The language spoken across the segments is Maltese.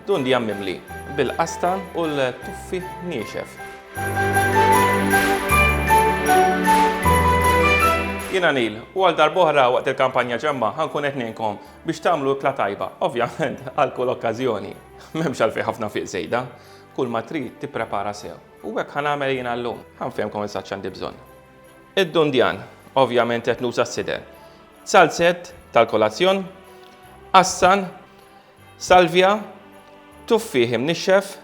Dun di jammimli bil-qastan u l-tuffi niexef. Jina Nil, u għal darbohra waqt il-kampanja ġemma ħankun qed ngħinkom biex tagħmlu ikla tajba, ovvjament għal kull okkażjoni. M'hemmx għalfejn ħafna fiq żejda, kull ma trid tipprepara sew. U hekk ħanagħmel jien llum, ħanfehmkom eżatt x'għandi bżonn. Id-dundjan, ovvjament qed nuża s-sider. Salzett tal-kolazzjon, qassan, salvja, tuffieħ imnixxef,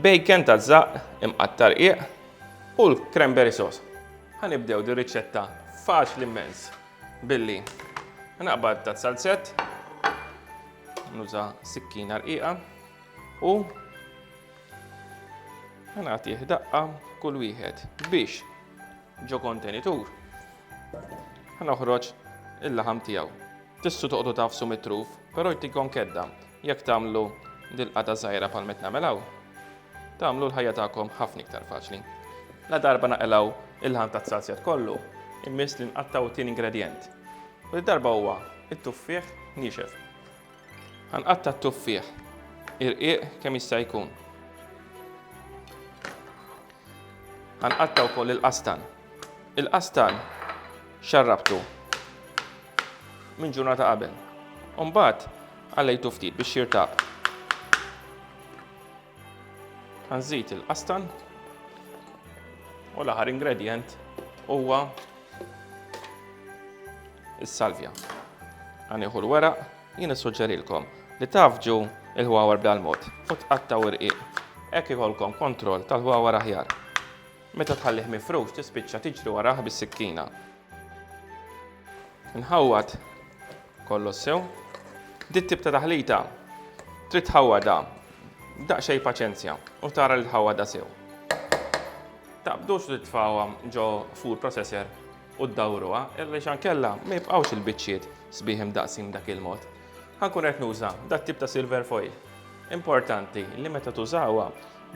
bacon taż-żaqq imqatta' rqiq u l-cranberry sauce. Ħa nibdew dir-riċetta faċli mmens billi naqbad ta' salzett, nuża sikkina rqiqa u ħa nagħtih daqqa kull wieħed biex Ġo kontenitur ħa noħroġ il-laħam tiegħu. Tissu toqgħodu tafsu mit-truf, però jtikom kedda jekk tagħmlu dil-qata żgħira bħal met nagħmel hawn, tagħmlu l-ħajja tagħkom ħafna iktar faċli. La darba naqilgħu il-laħam tat-salzjat kollu, immiss li nqattgħu t-tieni ingredjent. U darba huwa it-tuffieħ niexef. Ħanqatta' t-tuffieħ irqiq kemm jista' jkun. Ħanqatta' wkoll il-qastan. Il-qastan xarrabtu minn ġurnata qabel. Umbagħad għallejtu ftit biex jirtab. Nżid il-qastan u l-aħħar ingredient huwa is-salvja. Għaniħu l-weraq, jien issuġġerilkom li tafġu il-ħwawar bl-mod u tqattaw irqiq. Hekk ikolkom kontroll tal-ħwawar aħjar. Meta tħallih mifrux tispiċċa tiġri warah bis-sikkina. Nħawwad kollox sew. Dit tip ta' taħlita trid tħawwadha daqsxejn paċenzja u tara li tħawwadha sew. Taqbdux li tfawha ġo food processor u ddawruha, illi xan kella ma jibqgħux il-biċċiet sbieħ imdaqsim dak il-mod. Ħankun qed nuża dat tip ta' silver foil. Importanti li meta tużawha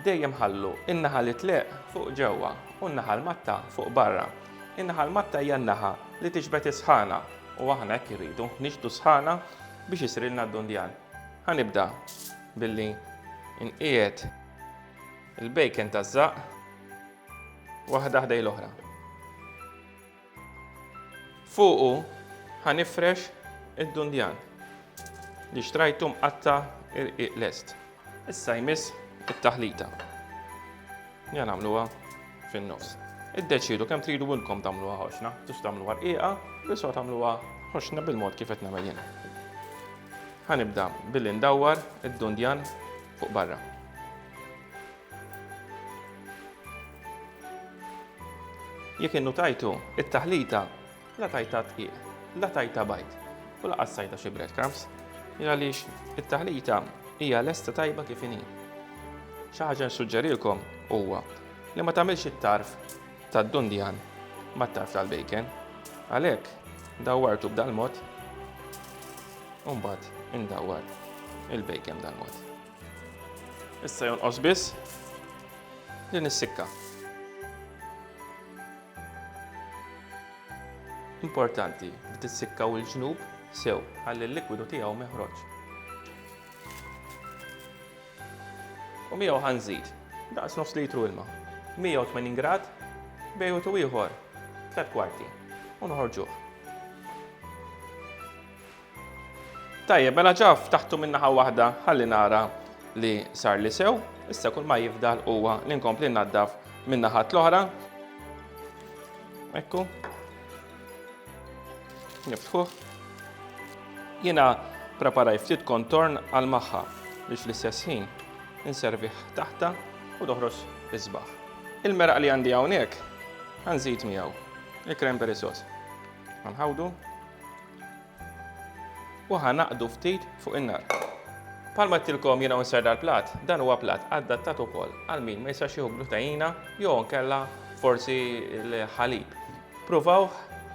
Dejjem ħallu n-naħa li tleqq fuq ġewwa u n-naħa l-matta fuq barra. In-naħa l-matta hija n-naħa li tixbet is-sħana u aħna hekk irridu, nixbdu s-sħana biex isirilna d-dundjan. Ħa nibda billi nqiegħed il-bacon taż-żaqq waħda ħdejn l-oħra. Fuqu ħa nifrex id-dundjan li xtrajtu mqatta' irqiq lest. Issa jmiss it-taħlita. Ja nagħmluha fin-nofs. Iddeċiedu kemm tridu intkom tagħmluha ħoxna, tux tagħmluha rqiqa, biss tagħmluha ħoxna bil-mod kif qed nagħmel jien. Ħanibda billi ndawwar id-dundjan fuq barra. Jekk innutajtu, it-taħlita la tajta tqiq, la tajta bajt, u laqas sajta xi breadcrumbs, għaliex it-taħlita hija lesta tajba kif inhi. Xi ħaġa nsuġġerilkom huwa li ma tagħmilx it-tarf tad-dundjan mat-tarf tal-bacon. Għalhekk, dawwartu b'dal-mod, u mbagħad indawwar il-bacon dal-mod. Issa jonqos biss li nissikka. Importanti li tissikka u l-ġnub sew għalli l-likwidu tiegħu meħroġ. U miegħu ħanżid daqs nofs litru ilma. 180 grad bejn u ieħor 3 kwarti u noħorġuh. Tajjeb, mela ġa ftaħtu minn naħa waħda ħalli nara li sar li sew, issa kull ma jifdal huwa li nkompli naddaf minn naħat l-oħra. Ekku. Niftħuh. Jiena preparaj ftit kontorn għal magħha biex l-istess ħin inserviħ taħta u doħros isbaħ. Il-meraq li għandi hawnhekk għanżid miegħu il-cranberry sauce. Għanħawdu u ħanaqdu ftit fuq in-nar. Palma tilkom jiena unser dal-plat, dan huwa plat adattat ukoll għal min ma jistax jieħu glutajina jew nkella forsi l-ħalib. Pruvaw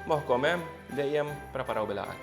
moħħkom hemm dejjem preparaw bil-għaqal.